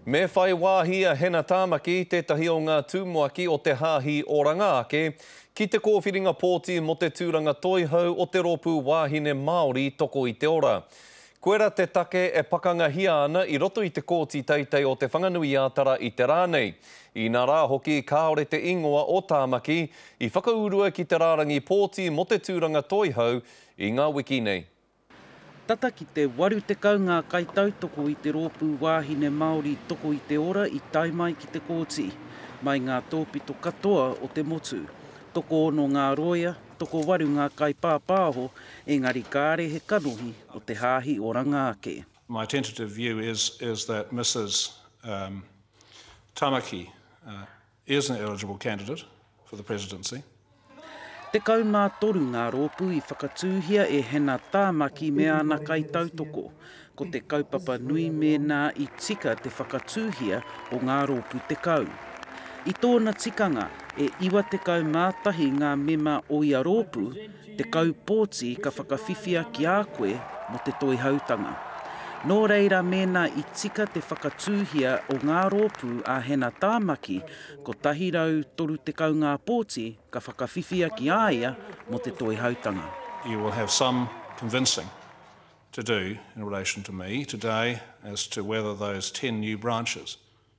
Me whai wāhi a Hena Tāmaki, tētahi o ngā tumuaki o te Hāhi Oranga Ake, ki te kōwhiringa pōti mō te tūranga toihau o te rōpū Wāhine Māori Toko i te Ora. Koira te take e pakangahia ana i roto i te Kōti Teitei o Te Whanganui-ā-Tara i te rā nei, inā rā hoki kāore te īngoa o Tāmaki i whakaurua ki te rārangi pōti mō te tūranga toihau i ngā wiki nei. Tata ki te 80 ngā kaitautoko i te Rōpū Wāhine Māori Toko i te Ora i tae mai ki te kōti, mai ngā tōpito katoa o te motu. Tokoono ngā rōia, tokowaru ngā kaipāpāho, engari kāre he kanohi o te Hāhi Oranga ake. My tentative view is is that Mrs Tamaki, is an eligible candidate for the presidency. Tekau mā toru ngā rōpū i whakatūhia e Hannah Tāmaki me āna kaitautoko. Ko te kaupapa nui mēnā i tika te whakatūhia o ngā rōpū tekau. I tōna tikanga, e 91 ngā mema o ia rōpū, 10 pōti ka whakawhiwhia ki a koe mō te Toihautanga. Nō reira mēnā i tika te whakatūhia o ngā rōpū a Hena Tāmaki, 130 ngā pōti ka whakawhiwhia ki a ia mō te Toihautanga. You will have some convincing to do in relation to me today as to whether those 10 new branches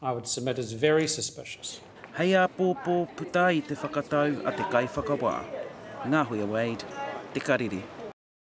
I would submit is very suspicious. Hei āpōpō puta i te whakatau a te Kaiwhakawā, Ngahuia Wade, Te Karere.